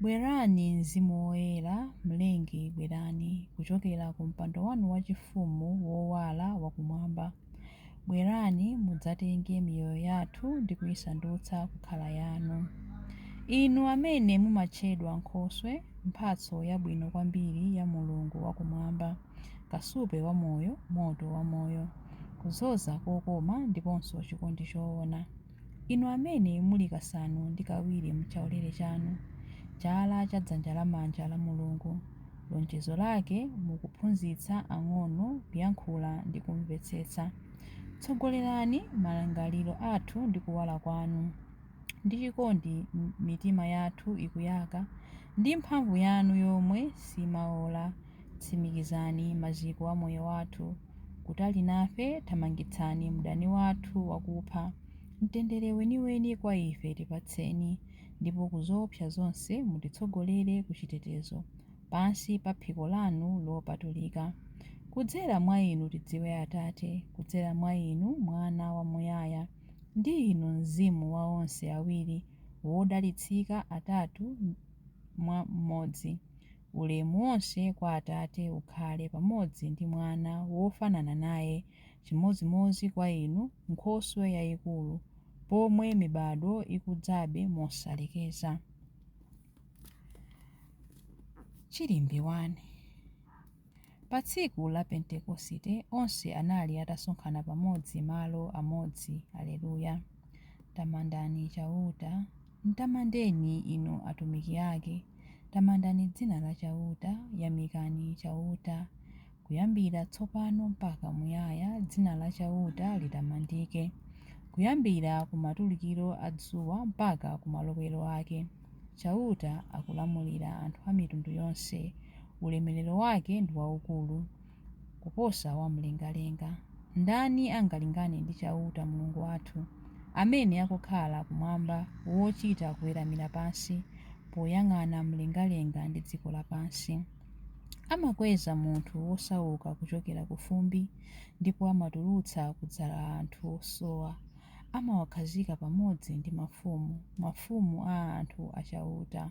Bwerani, Mzimu Woyera, Mlengi, bwerani kuchokera ku mpando wanu wachifumu wowala wa Kumwamba. Bwerani, mudzatenge miyoyo yathu ndi kuisandutsa kukhala Yanu. Inu amene mumatchedwa nkhoswe, mphatso yabwino kwambiri ya Mulungu wa Kumwamba, kasupe wa Moyo, Moto wa Moyo, kudzoza kokoma, ndiponso chikondi choona. Inu amene muli kasanu ndi kawiri mchaulere chanu, chala cha dzanja lamanja la Mulungu, lonjezo Lake mu kuphunzitsa ang'ono kuyankhula ndi kumvetsetsa, tsogolerani malingaliro athu ndi kuwala Kwanu, ndi chikondi mitima yathu ikuyaka ndi mphamvu Yanu yomwe simaola. Tsimikizani maziko a moyo wathu. Kutali nafe, thamangitsani mdani wathu wakupha. Mtendere weniweni kwa ife tipatseni, ndipo ku zoopsa zonse mutitsogolere ku chitetezo, pansi pa phiko lanu lopatulika. Kudzera mwa Inu tidziwe Atate, kudzera mwa Inu Mwana wamuyaya, ndi Inu Mzimu wa onse awiri wodalitsika atatu mwa mmodzi. Ulemu wonse kwa Atate ukhale pamodzi ndi Mwana wofanana naye, chimodzimodzi kwa inu, Nkhoswe yaikulu, pomwe mibado ikudzabe mosalekeza. Chilimbi 1. Pa tsiku la Pentekosite onse anali atasonkhana pamodzi malo amodzi. Aleluya. Tamandani Chauta. Mtamandeni, inu atumiki ake, tamandani dzina la Chauta, yamikani Chauta. Kuyambira tsopano mpaka muyaya dzina la Chauta litamandike, kuyambira ku matulukiro a dzuwa mpaka ku malowero ake. Chauta akulamulira anthu a mitundu yonse, ulemerero wake ndi waukulu. kuposa wamlengalenga. Ndani angalingane ndi Chauta, Mulungu wathu, amene akukhala kumwamba, wochita kuweramira pansi poyang'ana mlengalenga ndi dziko lapansi? Amakweza munthu wosauka kuchokera ku fumbi, ndipo amatulutsa ku dzala anthu osowa. Amawakhazika pamodzi ndi mafumu, mafumu a anthu a Chauta.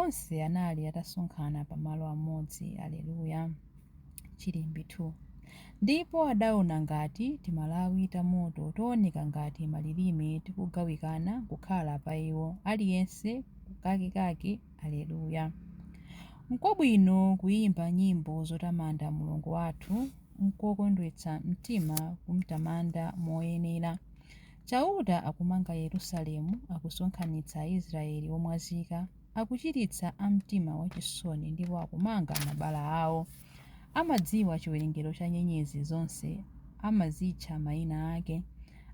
Onse anali atasonkhana pa malo amodzi, aleluya, Chilimbi 2, ndipo adaona ngati timalawi ta moto tooneka ngati malilime tikugawikana kukhala pa iwo, aliyense kakekake, aleluya. Nkwabwino kuyimba nyimbo zotamanda Mulungu wathu, nkokondwetsa mtima kumtamanda moyenera. Chauta akumanga Yerusalemu, akusonkhanitsa Aisraele omwazika, akuchiritsa a mtima wachisoni, ndipo akumanga mabala ao. Amadziwa chiwerengero cha nyenyezi zonse, amazitcha maina ake.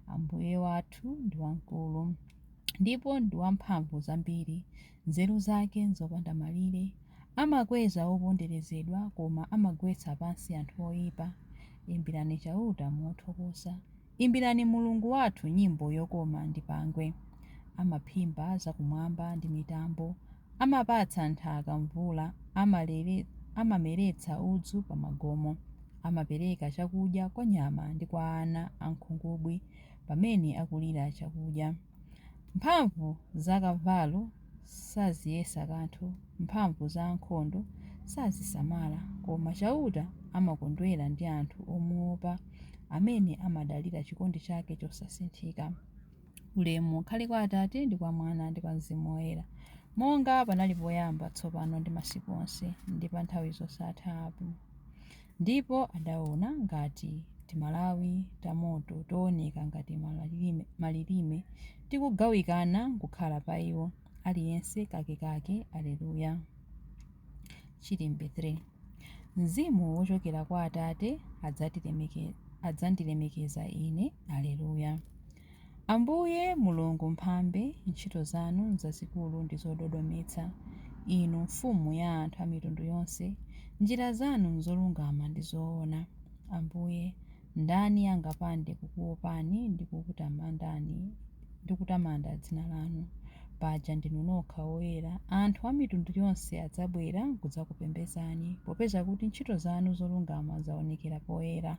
Ambuye wathu ndi wamkulu, ndipo ndi wa mphamvu zambiri. Nzeru zake nzopanda malire. Amakweza oponderezedwa, koma amagwetsa pansi anthu oipa. Imbirani Chauta mothokoza, Imbirani Mulungu wathu nyimbo yokoma ndi pangwe. Amaphimba zakumwamba ndi mitambo, amapatsa nthaka mvula, amameretsa udzu pa magomo. Amapereka chakudya kwa nyama ndi kwa ana a nkhungubwi pamene akulira chakudya. Mphamvu za kavalo saziyesa kanthu, mphamvu za ankhondo sazisamala, koma Chauta amakondwera ndi anthu omuwopa, amene amadalira chikondi chake chosasinthika. Ulemu ukhale kwa Atate, ndi kwa Mwana, ndi kwa Mzimu Woyera, monga panali poyamba, tsopano ndi masiku onse, ndi pa nthawi zosatha. Amen. Ndipo adaona ngati timalawi tamoto tooneka ngati malilime, tikugawikana kukhala pa iwo, aliyense kakekake. Aleluya. Chilimbi 3. Mzimu wochokera kwa Atate adzandilemekeza Ine. Aleluya. Ambuye Mulungu Mphambe, ntchito zanu nzazikulu ndi zododometsa, Inu Mfumu ya anthu a mitundu yonse, njira zanu nzolungama ndi zoona. Ambuye, ndani angapande kukuopani ndi kutamanda dzina lanu? Paja ndinu nokha woyera, anthu a mitundu yonse adzabwera kudzakupembedzani, popeza kuti ntchito zanu zolungama zaonekera poyera.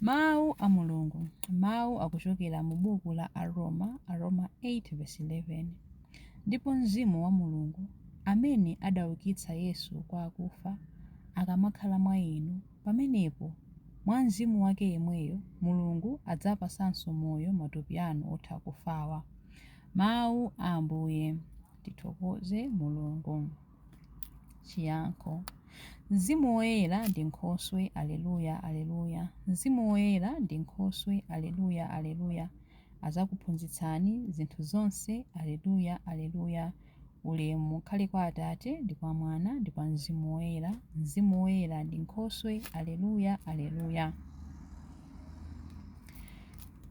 Mawu a Mulungu, Mawu akuchokera mu buku la Aroma, Aroma 8 vesi 11, Ndipo Mzimu wa Mulungu, amene adaukitsa Yesu kwa akufa, akamakhala mwa inu, pamenepo, mwa Mzimu wake yemweyo, Mulungu adzapasanso moyo matupi anu otha kufawa. Mawu a Ambuye. Tithokoze Mulungu. Chiyankho Mzimu Woyera ndi Nkhoswe Aleluya Aleluya Mzimu Woyera ndi Nkhoswe Aleluya Aleluya Azakuphunzitsani zinthu zonse Aleluya Aleluya Ulemu ukhale kwa Atate ndi kwa Mwana ndi kwa Mzimu Woyera Mzimu Woyera ndi Nkhoswe Aleluya Aleluya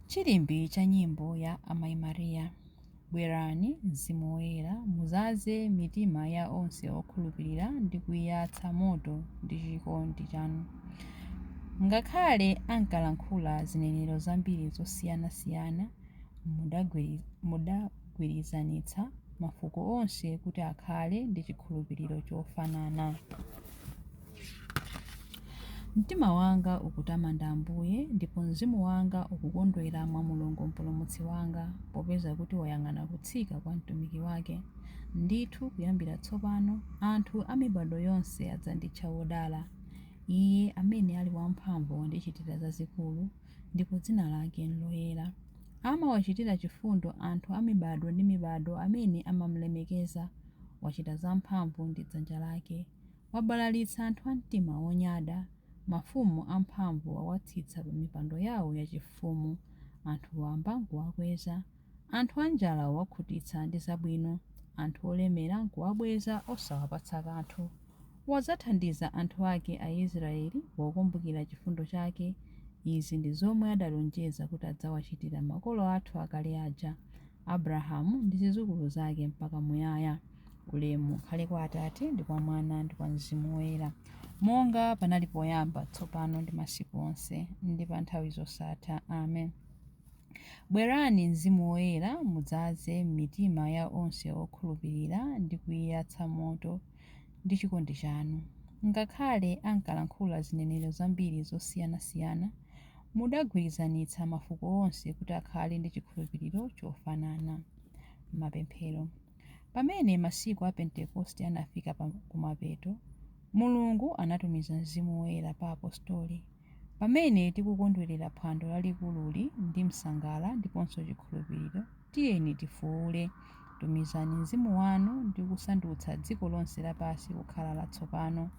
Chilimbi cha nyimbo ya Amai Maria Bwerani, Mzimu Woyera, mudzaze mitima ya onse okhulupirira ndi kuiyatsa moto ndi chikondi chanu. Ngakhale ankalankhula zinenero zambiri zosiyanasiyana, mudagwirizanitsa mafuko onse kuti akhale ndi chikhulupiriro chofanana. Mtima wanga ukutamanda Ambuye, ndipo mzimu wanga ukukondwera mwa Mulungu Mpulumutsi wanga, popeza kuti wayang'ana kutsika kwa mtumiki wake. Ndithu, kuyambira tsopano, anthu a mibado yonse adzanditcha wodala. Iye amene ali wamphamvu wandichitira zazikulu, ndipo dzina lake n'loyera. Amawachitira chifundo anthu a mibado ndi mibado amene amamulemekeza. Wachita zamphamvu ndi dzanja lake. Wabalalitsa anthu a mtima wonyada, mafumu amphamvu wawatsitsa pamipando yawo yachifumu. Anthu wamba n'kuwakweza. Anthu anjala wawakhutitsa ndi zabwino. Anthu olemera n'kuwabweza osawapatsa kanthu. Wadzathandiza anthu ake Aisiraeli pokumbukira chifundo chake. Izi ndi zomwe adalonjeza kuti adzawachitira makolo athu akale aja. Abrahamu ndi zizukulu zake mpaka muyaya. Ulemu ukhale kwa Atate, ndi kwa Mwana, ndi kwa Mzimu Woyera, monga panali poyamba, tsopano ndi masiku onse, ndi pa nthawi zosatha. Amen. Bwerani, Mzimu Woyera, mudzaze m'mitima ya onse okhulupilira ndi kuiyatsa moto ndi chikondi chanu. Ngakhale ankalankhula zinenero zambiri zosiyanasiyana, Mudagwirizanitsa mafuko onse kuti akhale ndi chikhulupiriro chofanana. Mapemphero. Pamene masiku a Pentekoste anafika kumapeto, Mulungu anatumiza Mzimu Woyera pa Apostoli. Pamene tikukondwerera phwando lalikululi ndi msangala ndiponso chikhulupiriro, Tiyeni tifuule, Tumizani Mzimu wanu ndi kusandutsa dziko lonse lapansi kukhala latsopano.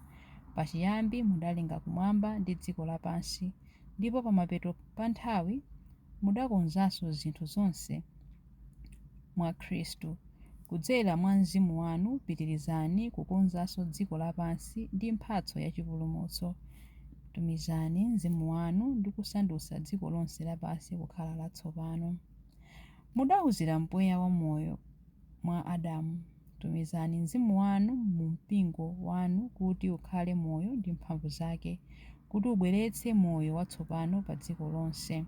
Pachiyambi mudalenga kumwamba ndi dziko lapansi, ndipo pamapeto pa nthawi mudakonzanso zinthu zonse mwa Khristu. Kudzera mwa Mzimu wanu pitirizani kukonzanso dziko lapansi ndi mphatso ya chipulumutso. Tumizani Mzimu wanu ndi kusandutsa dziko lonse lapansi kukhala latsopano. Mudauzira mpweya wa moyo mwa Adamu, tumizani Mzimu wanu mu Mpingo wanu kuti ukhale moyo ndi mphamvu zake, kuti ubweretse moyo watsopano pa dziko lonse.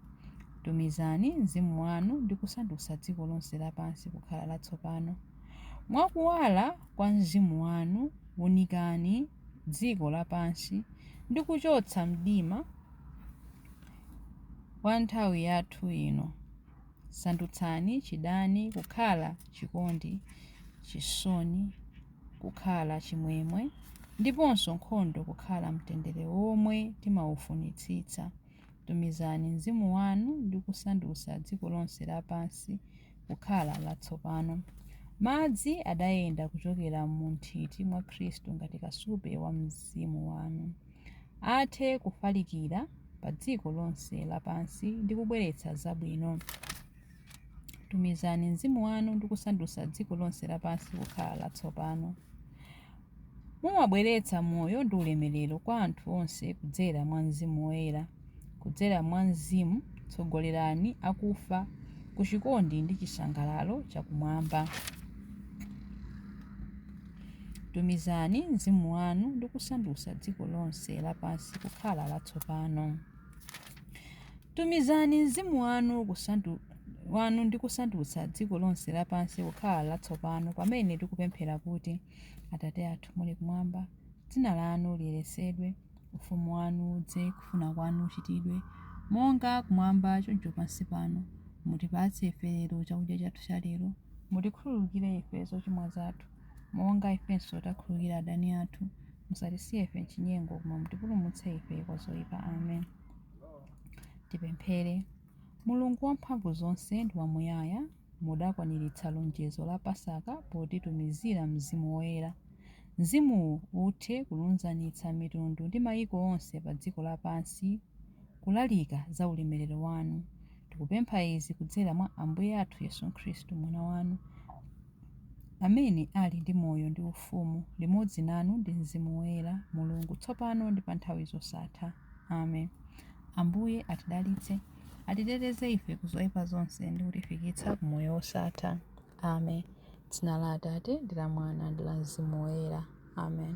Tumizani Mzimu wanu ndi kusandutsa dziko lonse lapansi kukhala latsopano. Mwa kuwala kwa Mzimu wanu, wunikani dziko lapansi ndi kuchotsa mdima. wa nthawi yathu ino. Sandutsani chidani kukhala chikondi, chisoni kukhala chimwemwe, ndiponso nkhondo kukhala mtendere womwe timaufunitsitsa. Tumizani mzimu wanu ndi kusandutsa dziko lonse lapansi kukhala latsopano. Madzi adayenda kuchokera mu nthiti mwa Khristu ngati kasupe wa Mzimu wanu. athe kufalikira padziko lonse lapansi ndi kubweretsa zabwino. Tumizani mzimu wanu ndi kusandutsa dziko lonse lapansi kukhala latsopano. Mumabweretsa moyo ndi ulemerero kwa anthu onse kudzera mwa mzimu woyera. Kudzera mwa mzimu, tsogolerani akufa ku chikondi ndi chisangalalo cha kumwamba. Tumizani mzimu wanu ndi kusandutsa dziko lonse lapansi kukhala latsopano. Tumizani mzimu wanu kusandu, wanu ndi kusandutsa dziko lonse lapansi kukhala latsopano pamene tikupemphera kuti, Atate athu muli kumwamba, dzina lanu liyeretsedwe. Ufumu wanu udze, kufuna kwanu kuchitidwe, monga kumwamba choncho pansi pano. Mutipatse ife lero chakudya chathu cha lero. Mutikhululukire ife zochimwa zathu, monga ifenso takhululukira adani athu. Musatisiye ife m'chinyengo, koma mutipulumutse ife kwa zoipa. Amen. Tipemphere. Mulungu wamphamvu zonse ndi wamuyaya, Mudakwaniritsa lonjezo la Pasaka potitumizira Mzimu Woyera. Mzimuwu uthe kulunzanitsa mitundu ndi maiko onse pa dziko lapansi kulalika za ulemerero wanu. Tikupempha izi kudzera mwa Ambuye athu Yesu Khristu, Mwana wanu, amene ali ndi moyo ndi ufumu limodzi nanu ndi Mzimu Woyera, Mulungu, tsopano ndi pa nthawi zosatha. Amen. Ambuye atidalitse. atiteteze ife ku zoyipa zonse ndi kutifikitsa ku moyo wosatha amen dzina la atate ndi la mwana ndi la mzimu woyera amen